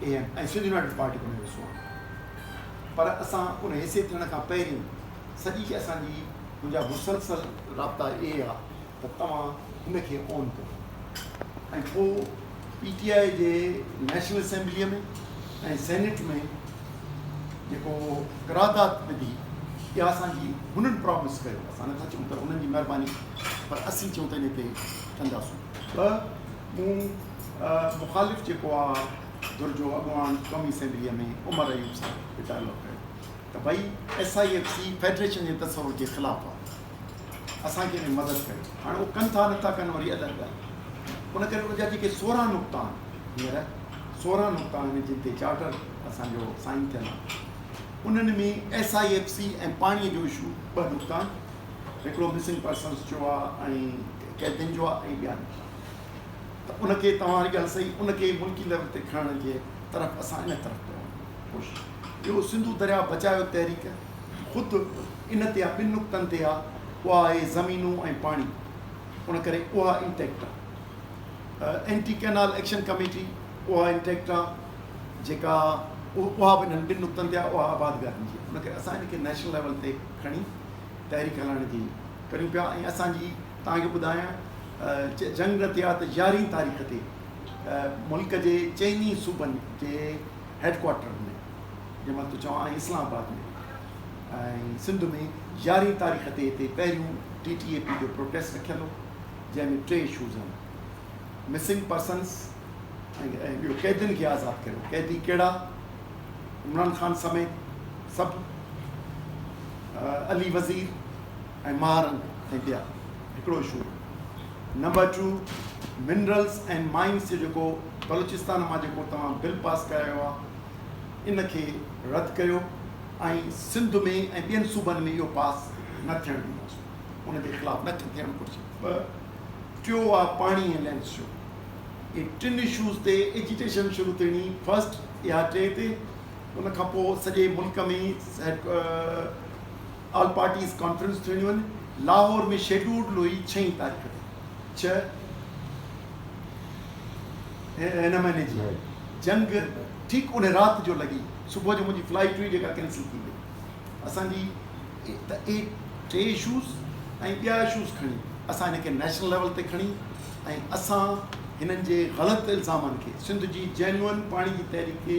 اي ايم ۽ سنڌ يونائيٽيڊ پارٽي ڪو نه وسون آهن پر اسان ان حيثيت ٿيڻ کان پهرين سڄي کي اسان جي منهنجا مسلسل رابطا اهي آ ته توهان هن کي اون ڪريو ۽ پو پي ٽي آء جي نيشنل اسيمبلي ۾ ۽ سينيٽ ۾ جيڪو قرارداد وڌي اها اسان جي هنن پرامس ڪيو اسان نٿا چون ته هنن جي مهرباني پر اسين چون ته ان کي ڪنداسون ٻه مون مخالف جيڪو آ ڌر جو اڳواڻ قومي اسيمبليء ۾ عمر ايوب صاحب کي ڊائلاگ ڪيو ته ڀئي S I F C federation جي تصور جي خلاف آ اسان کي انهي مدد ڪيو هاڻي اهو ڪن ٿا نٿا ڪن وري الڳ ڳالهه آ ان ڪري ان جا جيڪي سورهن نقطا آهن هينئر سورهن نقطا آهن جن تي چارٽر اسان جو سائين ٿيل آ انهن ۾ ايس آء ايف سي ۽ پاڻي جو اشو ٻه نقطا آهن هڪڙو مسنگ پرسنس جو آ ۽ قيدين جو آ ۽ ٻيا نقطا ته ان کي توهان واري ڳالهه صحيح ان کي ملڪي ليول تي کڻڻ جي طرف اسان ان طرف پيا وڃون خوش ٻيو سنڌو درياء بچايو تحريڪ خود ان تي آ ٻن نقطن تي آ اها آهي زمينون ۽ پاڻي ان ڪري اها انٽيڪٽ آ اينٽي ڪينال ايڪشن ڪميٽي اها انٽيڪٽ آ جيڪا اها به انهن ٻن نقطن تي آ اها آباد گاهن جي ان ڪري اسان ان کي نيشنل ليول تي کڻي تحريڪ هلائڻ جي ڪريون پيا ۽ اسان جي توهان کي ٻڌايان ته جنگ نه ٿي ها ته يارهين تاريخ تي ملڪ جي چئن ئي صوبن جي هيڊ ڪوارٽرن ۾ جنهن مٿو چوان ۽ اسلام آباد ۾ ۽ سنڌ ۾ يارهين تاريخ تي هتي پهريون ٽي ٽي اي پي جو پروٽيسٽ رکيل هو جنهن ۾ ٽي اشوز هئا مسنگ پرسنس ۽ ٻيو قيدين کي آزاد ڪريو قيدي ڪهڙا عمران خان سميت سڀ علي وزير ۽ مارن ۽ ٻيا هڪڙو شو number two minerals and mines جو جيڪو بلوچستان مان جيڪو توهان بل پاس ڪرايو آ ان کي رد ڪريو ۽ سنڌ ۾ ۽ ٻين صوبن ۾ اهو پاس نه ٿيڻ ڏينداسون ان جي خلاف نه ٿيڻ گهرجي ٻه ٽيو آ پاڻي ۽ لينس جو اهي ٽن اشوز تي ايجيٽيشن شروع ٿيڻي فرسٽ اها ٽي تي ان کان پوء سڄي ملڪ ۾ آل پارٽيز ڪانفرنس ٿيڻيون آهن لاهور ۾ شيڊولڊ لوئي ڇهين تاريخ تي ڇهه هن مهيني جي جنگ ٺيڪ ان رات جو لڳي صبح جو منهنجي فلائيٽ هئي جيڪا ڪينسل ٿي وئي اسان جي ته اهي ٽي اشوز ۽ ٻيا اشوز کڻي اسان هن کي نيشنل ليول تي کڻي ۽ اسان هنن جي غلط الزامن کي سنڌ جي جينون پاڻي جي تحريڪ کي